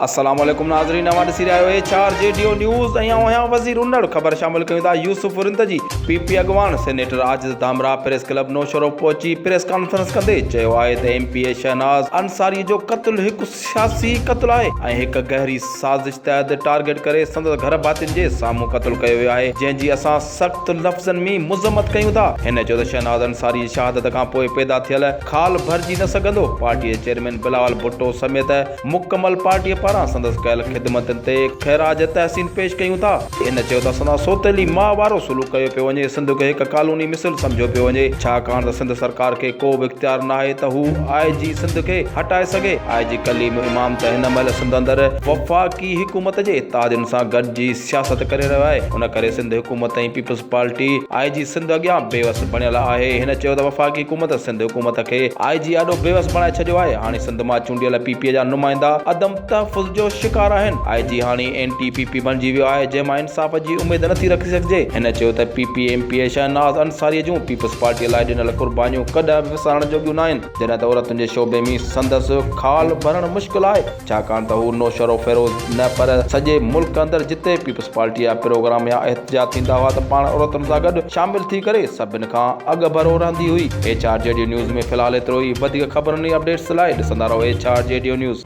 السلام عليڪم ناظرين اوهان ڏسي رهيا آهيو H R G due news ۽ آئون آهيان وزير انڙ خبر شامل ڪيون ٿا يوسف ورندجي پي پي اڳواڻ senator Ajiz Dhamrah press club Naushahro پهچي پريس ڪانفرنس ڪندي چيو آهي ته M P A Shahnaz Ansari جو قتل هڪ سياسي قتل آهي ۽ هڪ گهري سازش تحت ٽارگيٽ ڪري سندس گهر ڀاتين جي سامهون قتل ڪيو ويو آهي جنهن جي اسان سخت لفظن م مذمت ڪيون ٿا هن چيو ته شهناز انصاري جي شهادت کانپوء پيدا ٿيل خال ڀرجي نه سگهندو پارٽي جي چيئرمين بلاول ڀٽو سميت مڪمل پارٽيء پاران سندس ڪيل خدمتن تي خراج تحسين پيش ڪيون ٿا. هن چيو ته سندس سوتيلي ماء وارو سلوڪ ڪيو پيو وڃي، سنڌ کي هڪ ڪالوني مثل سمجهيو پيو وڃي، ڇاڪاڻ ته سنڌ سرڪار کي ڪو به اختيار ناهي ته هو آء جي سنڌ کي هٽائي سگهي، آء جي ڪليم امام ته هن مهل سنڌ اندر وفاقي حڪومت جي اتحادين سان گڏجي سياست ڪري رهيو آهي ان ڪري سنڌ حڪومت ۽ پيپلز پارٽي آء جي سنڌ اڳيان بي وس بڻيل آهي هن چيو ته وفاقي حڪومت سنڌ حڪومت کي آء جي آڏو بي وس بڻائي ڇڏيو آهي هاڻي سنڌ مان چونڊيل پي پي جا نمائندا عدم تحفظ جو شڪار آهن آء جي هاڻي اينٽي پي پي بڻجي ويو آهي جنهن مان انصاف جي اميد نٿي رکي سگهجي هن چيو ته P P M P A Shahnaz Ansari جون پيپلز پارٽي لاء ڏنل قربانيون ڪڏهن به وسارڻ جوڳيون ناهن جڏهن ته عورتن جي شعبي ۾ سندس خال ڀرڻ مشڪل آهي. ڇاڪاڻ ته هو نوشهرو فيروز نه پر سڄي ملڪ اندر جتي پيپلز پارٽي جا پروگرام يا احتجاج ٿيندا هئا ته پاڻ عورتن سان گڏ شامل ٿي ڪري سڀن کان اڳڀرو رهندي هئي. H R G due news ۾ في الحال ايترو ئي وڌيڪ خبرن ۽ اپڊيٽس لاء ڏسندا رهو H R G due news.